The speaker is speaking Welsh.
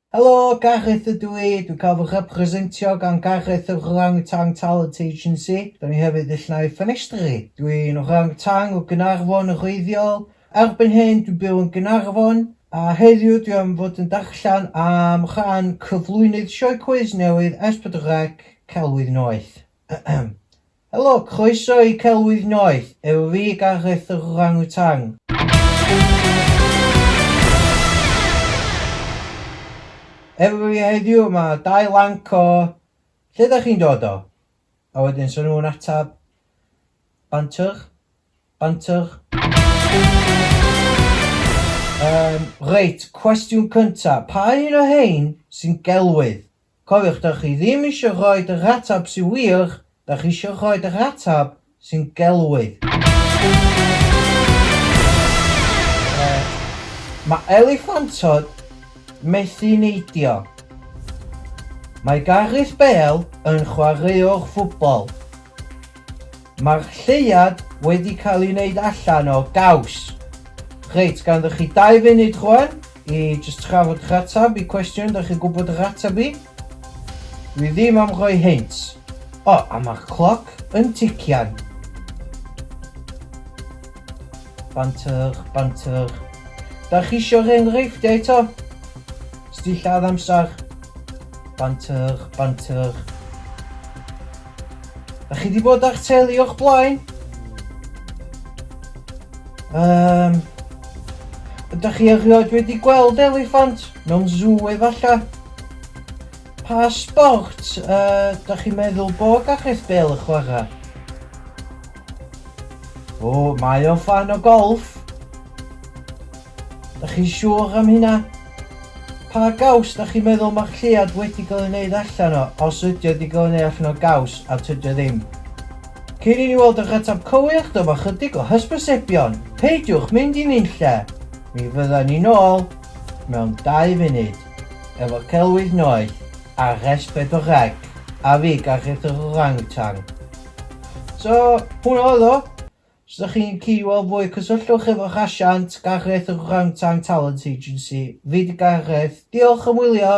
Helo, Gareth ydw i, dwi'n cael fy representio gan Gareth yr Orangutan Talent Agency. Da ni hefyd ill naill ffenestri. Dwi'n orangutan o Gaernarfon yn wreiddiol. Erbyn hyn dwi'n byw yn Gaernarfon a heddiw dwi am fod yn darllen am rhan cyflwynydd sioe cwis newydd S4C, Celwydd Noeth. Helo, croeso i Celwydd Noeth, efo fi, Gareth yr Orang-Utang. Efo fi heddiw mae dau lanc o lle ydych chi'n dod o? A wedyn sy'n nhw'n atab banter, banter. Um, reit, cwestiwn cyntaf, pa un o hein sy'n gelwydd? Cofiwch, dach chi ddim eisiau rhoi yr ateb sy'n wir, dach chi eisiau rhoi yr ateb sy'n gelwydd. Mae eliffantod methu neidio. Mae Gareth Bale yn chwaraewr ffwbol. Mae'r lleuad wedi cael ei wneud allan o gaws. Reit, ganddo chi dau funud rwan i jyst trafod eich ateb i cwestiwn da chi'n gwybod yr ateb i. Dwi ddim am roi hints. O, a mae'r cloc yn tician. Banter, banter. Da chi eisiau'r enghreifftiau eto? Sdillad amser. Banter, banter. Da chi wedi bod â'ch teulu o'ch blaen? Um, ydych chi erioed wedi gweld eliffant mewn zw efallai? Pa sport uh, da chi'n meddwl bo Gareth Bale y chwarae? O, mae o fan o golf. Dach chi'n siŵr am hynna? Pa gaws dach chi'n meddwl mae'r lleuad wedi gael ei wneud allan o, os ydy o wedi cael ei wneud allan o gaws, a tydi o ddim? Cyn i ni weld yr ateb cywir, dyma chydig o hysbysebion, peidiwch mynd i nunlle! Mi fyddan ni nôl mewn dau funud efo celwydd noeth a rhes bedwar ec, a fi, Gareth yr Orang Wtang. So, hwnna oedd o. Os ydych chi'n gallu gweld fwy, cysylltwch efo'r asiant Gareth yn Orangutan Talent Agency. Fi di Gareth. Diolch am wylio!